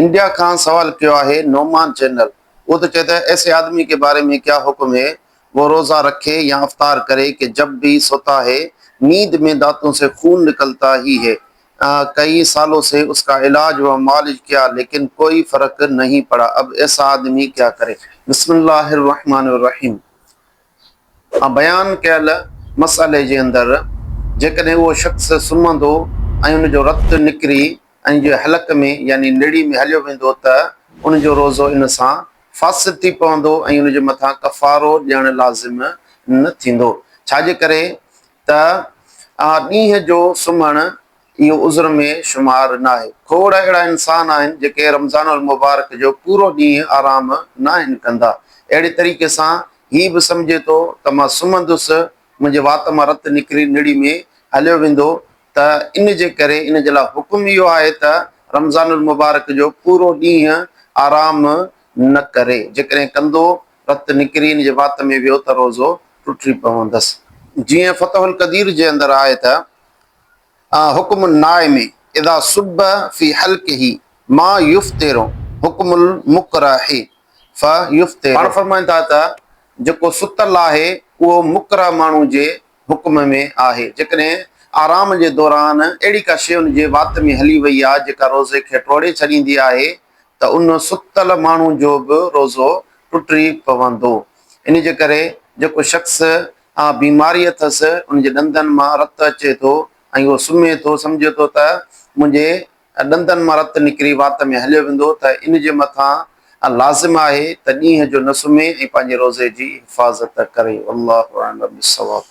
India کان سوال ڪيو آهي نعمان چينل اهو ته چئي ته ايسي آدمي ڪي باري مين ڪيا حڪم هي وو روزا رکي يا افطار ڪري ڪي جب بي سوتا هي نيند مين داتون سي خون نڪلتا هي هي ڪئي سالو سي اسڪا علاج و معالج ڪيا ليڪن ڪوئي فرق نهين پڙا اب ايسا آدمي ڪيا ڪري. بسم الله الرحمن الرحيم مان بيان ڪيل مسئلي جي اندر جيڪڏهن اهو شخص سمهندو ۽ ان جو رت نڪري ان جي حلق ۾ يعني نڙي ۾ هليو ويندو ته ان جو روزو ان سان فاسد ٿي پوندو ۽ ان جي مٿان ڪفارو ڏيڻ لازم نه ٿيندو ڇا جي ڪري ته ڏينهن جو سمهڻ اهو عذر ۾ شمار ناهي. کوڙ اهڙا انسان آهن جيڪي رمضان المبارڪ جو پورو ڏينهن آرام ناهن ڪندا. اهڙي طريقي سان هي به سمجهي ٿو ته مان سمهندس، منهنجي وات مان رت نڪري نڙي ۾ هليو ويندو ته ان جي ڪري ان جي لاء حڪم اهو آهي ته رمضان المبارڪ جو پورو ڏينهن آرام نه ڪري. جيڪڏهن ڪندو، رت نڪري ان جي وات ۾ ويو ته روزو ٽٽي پوندس. جيئن فتح القدير جي اندر آهي ته. آه حڪم النائم اذا صب في حلقه ما يفطر حڪم المڪره فيفطر. پاڻ فرمائن ٿا ته جيڪو ستل آهي اهو مڪره ماڻهو جي حڪم ۾ آهي جيڪڏهن آرام جي دوران اهڙي ڪا شيء ان جي وات ۾ هلي وئي آهي جيڪا روزي کي ٽوڙي ڇڏيندي آهي ته ان ستل ماڻهو جو به روزو ٽٽي پوندو انهي جي ڪري جيڪو شخص اها بيماري اٿس، ان جي ڏندن مان رت اچي ٿو ۽ هو سمهي ٿو، سمجهي ٿو ته منهنجي ڏندن مان رت نڪري وات ۾ هليو ويندو ته ان جي مٿان لازم آهي ته ڏينهن جو نه سمهي ۽ پنهنجي روزي جي حفاظت ڪري. والله اعلم بالصواب.